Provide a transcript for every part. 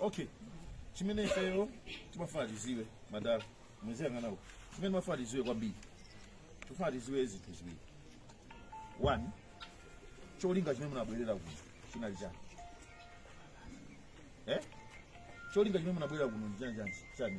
okay chimene ifeyo timafuna tiziwe madala muziyang'ana uko chimene timafuna tiziwe kwambiri tifuna tiziwe zinthu ziwiri one cholinga chimene munabwerera kuno chinali chani eh? cholinga chimene munabwerera kuno ndi chani chani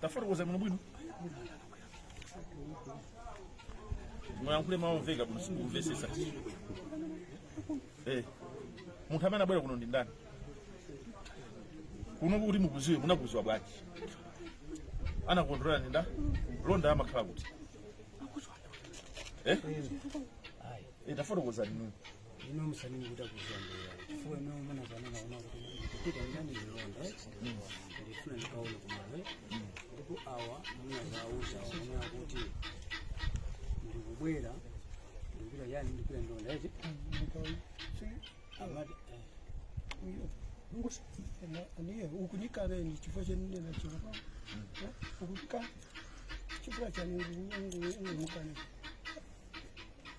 tafotokoza bwino bwino muyankhule mawu omveka bwino sindikumvesesa Eh, munthu amene anabwera kuno ndi ndani kuno kuti mukuziwe munakuziwa bwanji anakulondolera ndi nda mlonda amakhala kuti eh? Eh, tafotokozani nini ino musanini kuda kuzandira chifukwa ino munazanena awa kuti ndikupita ndani ndi mlonda ndifuna ndikaone kumale ndipo awa munawauza ona kuti ndikubwera ndikupita yani ndikupita ndi mlonda eti amati niye ukunyika beni chifukwa chenine nachiropa ukunyika chifukwa chanengumukane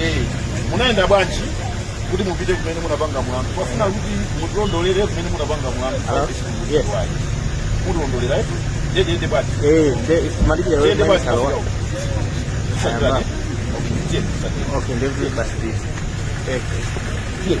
Eh, munayenda bwanji kuti mupite kumene munapanga mlandu tafuna kuti mutilondolere kumene munapanga mlandu yes. mutilondolera etu ndedende bati eh, ndedende bati Okay, leave it by this. Okay. Yeah.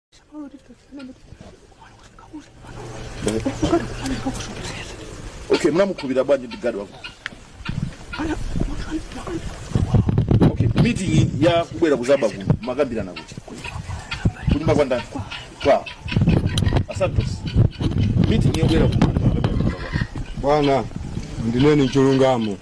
Okay, mnamukupira bwanji ndi gadi wako? Okay, meeting ya kubwera kuzaba kuno munakambirana kuti kunyumba kwa ndani kwa asantos meeting yobwera kuno bwana ndinene chilungamo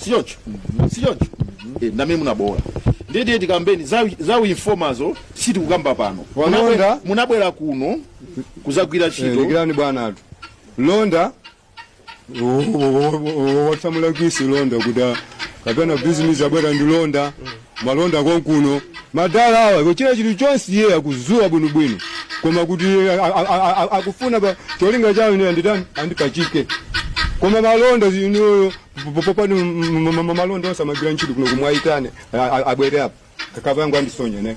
sichoncho sichoncho Eh, ndamene munaboola ndiye tiye tikambeni za- za uinfomazo sitikukamba pano Walonda. Munabwera- munabwera kuno kuzagwira Eh, ntchito dikirani bwana atu mlonda watsamula kwisi mlonda kuti a- kapena bizinesi abwera ndi mlonda alonda konkuno madala awa achita chilichonse iye akuziwa bwinobwino koma kuti a- a- a- a- akufuna pa cholinga chawo ine anditani andipachike koma malonda zinoyo popani alonda onse amagwira ntchito kuno muwayitane abwere apa kakavangu andisonyane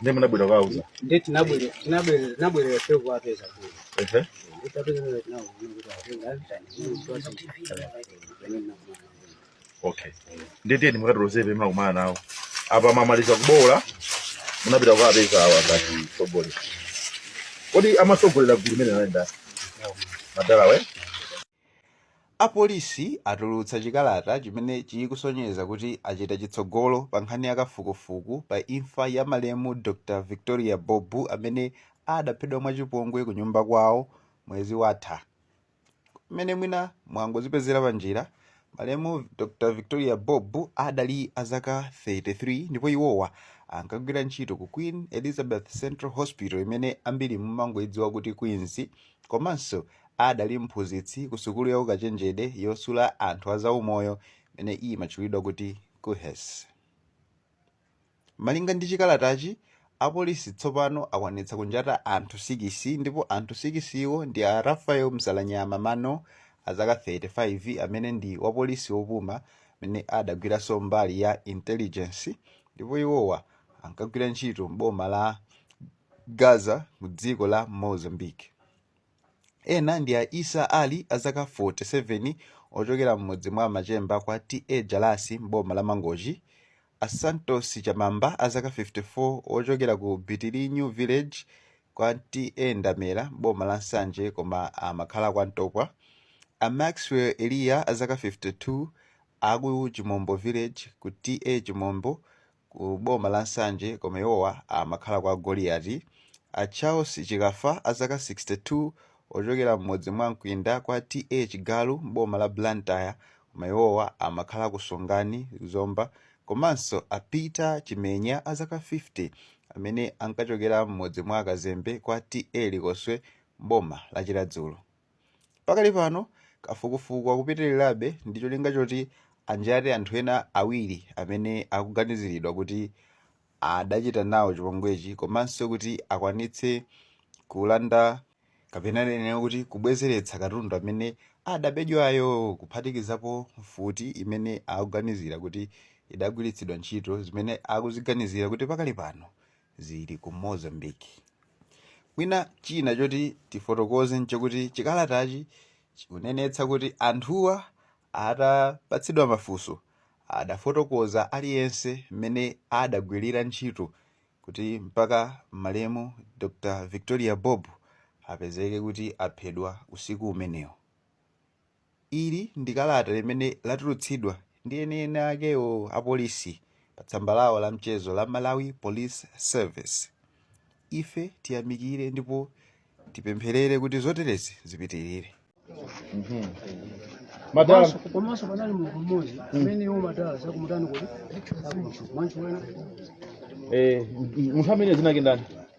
Ndiye mnabwera kuwauza. Ndiye tinabwera tinabwera tinabwera sio kwa pesa tu. Ehe. Utapenda ndio tunao ndio tunao. Okay. Ndiye ndiye nimukatoloze pema kumana nawo. Apa mwamaliza kuboola. Munapita kuwapeza awa ngati msogoleri. Kodi amasogolera gulu imene anayenda? Madala we? Apolisi atulutsa chikalata chimene chikusonyeza kuti achita chitsogolo pa nkhani ya kafukufuku pa imfa ya malemu Dr Victoria Bobe amene adaphedwa mwachipongwe kunyumba kwawo mwezi watha. Mmene mwina mwangozipezera panjira, malemu Dr Victoria Bobe adali a zaka 33 ndipo iwowa ankagwira ntchito ku Queen Elizabeth Central Hospital imene ambiri mumangoidziwa kuti Queens komanso Adali mphunzitsi kusukulu ya ukachenjede yosula anthu a zaumoyo imene imatchulidwa kuti KUHeS. Malinga ndi chikalatachi, apolisi tsopano akwanitsa kunjata anthu sikisi ndipo anthu sikisiwo ndi a Raphael Msalanyama Mano azaka 35 amene ndi wapolisi wopuma amene adagwiranso mbali ya intelligence ndipo iwowa ankagwira ntchito m'boma la Gaza mu dziko la Mozambique. Ena ndi a Issa Ali a zaka 47 ochokera m'mudzi mwa Machemba kwa TA Jalasi m'boma la Mangochi, a Santos Chamamba a zaka 54 ochokera ku Bitilinyu Village kwa TA Ndamera m'boma la Nsanje koma amakhala kwa Ntopwa, a Maxwell Eliya a zaka 52 aku Chimombo Village ku TA Chimombo ku boma la Nsanje koma iwowa amakhala kwa Goliati, a Charles Chikafa a zaka 62 ochokera m'mudzi mwa Mkwinda kwa TA Chigalu m'boma la Blantyre koma iwowa amakhala ku Songani, Zomba, komanso a Peter Chimenya a zaka 50 amene ankachokera m'mudzi mwa Kazembe kwa TA Likoswe m'boma la Chiradzulu. Pakali pano, kafukufuku akupitilirabe ndi cholinga choti anjate anthu ena awiri amene akuganiziridwa kuti adachita nawo chipongwechi komanso kuti akwanitse kulanda kapena ndinene kuti kubwezeretsa katundu amene adabedwayo kuphatikizapo mfuti imene akuganizira kuti idagwiritsidwa ntchito zimene akuziganizira kuti pakali pano zili ku Mozambique. Mwina china choti tifotokoze n'chakuti chikalatachi chikunenetsa kuti anthuwa atapatsidwa mafunso, adafotokoza aliyense mmene adagwirira ntchito kuti mpaka malemu Dr Victoria Bobe apezeke kuti aphedwa usiku umenewo. Ili ndi kalata limene latulutsidwa ndi eni akewo apolisi pa tsamba lawo la mchezo la Malawi Police Service. Ife tiyamikire ndipo tipempherere kuti zoterezi zipitirire. Madala, Komanso- komanso panali munthu mmodzi amene iwo madala zakumutani kuti akumuthu mwanchiwena eh, munthu amene zinake ndani?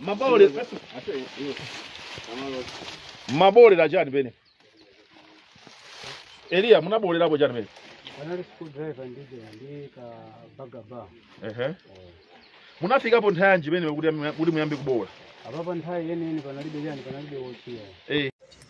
mabole mabolera chani pene eliya munabolerapo chani pene Anali screwdriver ndiye ndi ka bagaba. ehe munafikapo nthawi yanji pene kuti kuti muyambe kubola Apapa nthawi yeniyeni panalibe chani panalibe wotchi. eh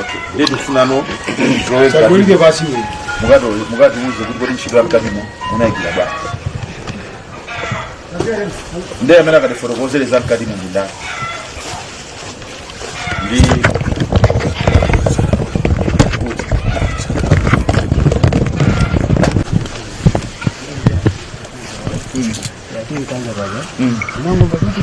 okay ndiye tikufunano Tagulike basi wewe. mukati mukatiuze kuti kodi ntchito yamkatimo munayigwira bwanji ndiye amene akatifotokozere za mkatimo ndi ndani ndi Mungu mbadilike.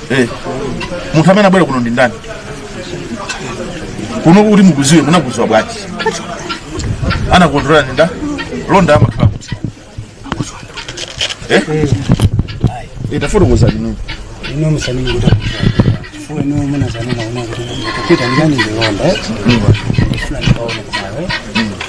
Eh. Munthu amene abwera kuno ndi ndani? Kuno kuti mukuziwe munakuziwa bwanji? Anakontrola ndi ndani? Londa amakhala kuti. Eh? Tafotokozani nini? ino musanii kuda fuwe no muna zanu mauna kuda kupita ndani ndi londa eh ndifuna ndikaone kwawe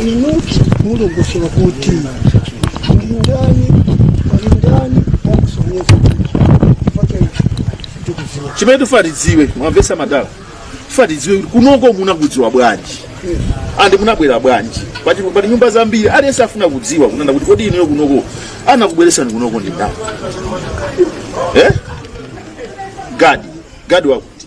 inuti mulungusola kuti mulindani mulindani wakusonyeza tikuziwa chimene tifuna tidziwe mwamvesa madala tifuna tidziwe kuti kunoko munakudziwa bwanji andi munabwera bwanji poti pali nyumba zambiri aliyense afuna kudziwa kunena kuti kodi inuyo kunoko anakubweresani kunoko ndi ndani eh? gadi gadi wakuti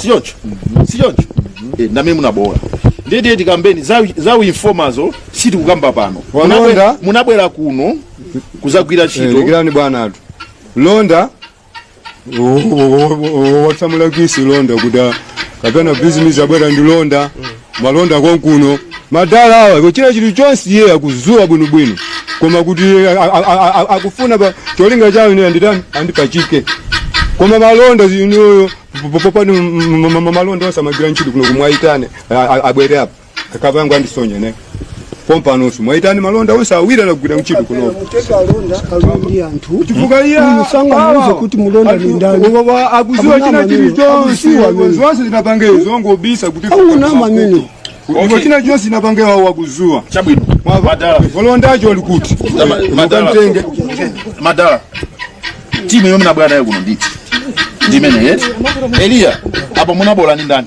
sichoncho sichoncho Eh, ndamene munabola ndiye tiye tikambeni za- za uinfomazo sitikukamba pano Walonda. Munabwera- munabwera kuno kuzagwira Eh, ntchito dikirani bwana athu londa watsamula kwisi londa kuti kapena bhizinesi abwera ndi londa malonda konkuno madala awa kuchita chinthu chonse iye akuziwa bwinobwino koma kuti a- a- a- a- akufuna pa cholinga chawo ine anditani andipachike koma malonda inuyo popani malonda onse amagira ntchito kuno kumwayitane abwere apa akapangu andisonye ine pompanoso mwaitani malonda onse awiri anagwira ntchito kuno chifukwa iye awa- kuti mulonda anthu- ni ndani. wa- wa- akuziwa Akuna china maneno. chilichonse Akuziwa maneno. zonse zinapange zongobisa kuti Hakuna maneno. Ndipo china chonse zinapange wawo wakuziwa chabwino madala wolondayo ali kuti Ma- madala. Ukamtenge. madala timu yomwe nabwera nayo kuno nditi ndimene yeti eliya apa munabola ndi ndani